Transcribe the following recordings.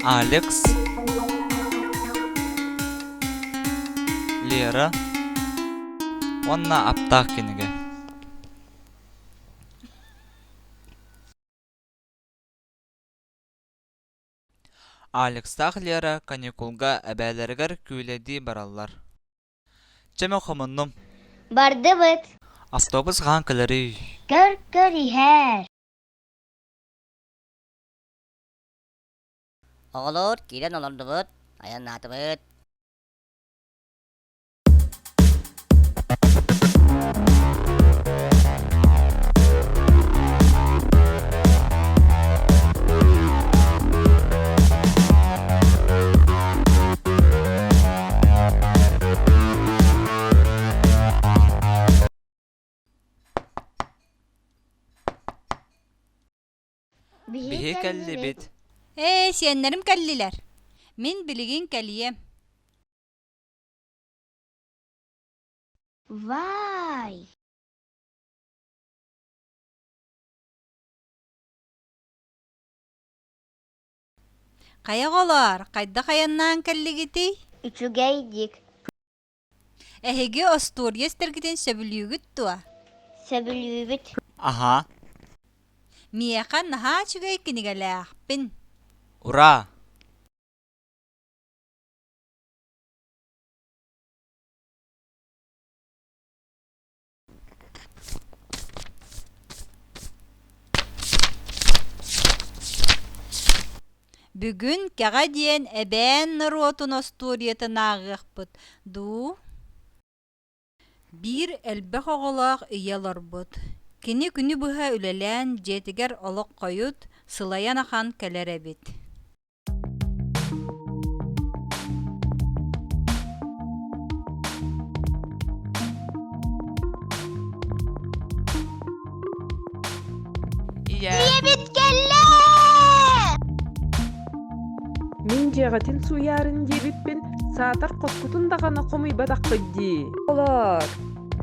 алекс лера уонна аптаах кинигэ алекстаах лера каникулга эбээлэригэр күлэдии бараллар Чэ, мэ хомуннум. Бардыбыт. Автобус хаан кэлэрий. Көр, көр иһэр. Оҕолор киирэн олордубут, айаннаатыбыт. Биһи кэллибит. Ээ, сиэннэрим кэллилэр. Мин билигин кэлием. Вай! Хайа оҕолоор, хайдах айаннаан кэллигитий? Үчүгэй дик. Эһиги остуоруйа истэргитин сөбүлүүгүт дуо? Сөбүлүүбүт. Аһаа. Миэхэ наһаа үчүгэй кинигэлээхпин. Ура! Бүгүн Кэҕэ диэн эбээн норуотун остуоруйатын ааҕыахпыт дуу Биир элбэх оҕолоох ийэ олорбут. Кини күнү быһа үлэлээн дьиэтигэр олох хойут, сылайан ахан кэлэр эбит Ийэбит кэллэ! Мин дьиэҕитин сууйаарын диэбиппин, саатар хоскутун даҕаны хомуйбатаххыт дии. Олор.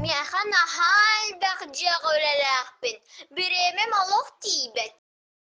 Миэхэ наһаа элбэх дьиэҕэ үлэлээхпин. Бириэмэм олох тиийбэт.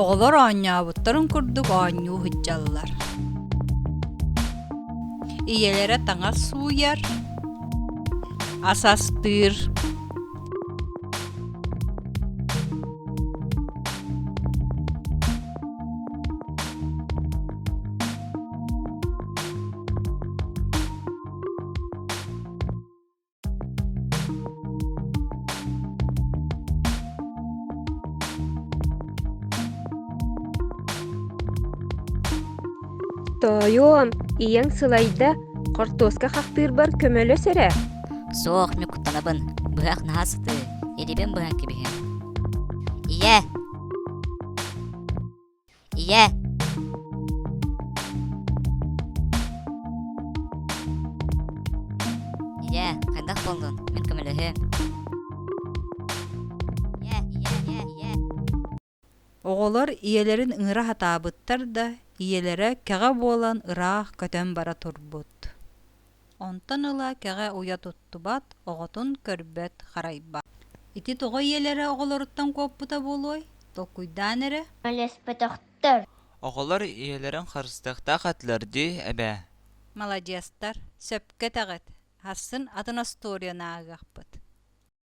Оҕолор оонньообуттарын курдук оонньуу сылдьаллар. Ийэлэрэ таҥас сууйар, ас астыыр, Тоойуом, ийэҥ сылайда, хортуоска хахтыырбар көмөлөс эрэ. Суох, ньукуттанабын. Быһах наһаа сытыы. Ирибэн быһан кэбиһэн. Ийэ, Ийээ Ийээ, хайдах буоллун? Мин көмөлөһүөм. Ийээ, ийээ, ийээ, ийээ. Оҕолор ийэлэрин ыҥыра сатаабыттар да, ийэлэрэ кэҕэ буолан ыраах көтөн бара турбут. Онтон ыла кэҕэ уйа туттубат, оҕотун көрбөт, харайбат. Ити тоҕо ийэлэрэ оҕолоруттан куоппута буолуой? Толкуйдаан эрэ. Мөлөспөтөхтөр. Оҕолор ийэлэрин харыстыахтаах этилэр дии эбээ. Маладьыастар, сөпкө этэҕит. Харсын атын остуоруйаны ааҕыахпыт.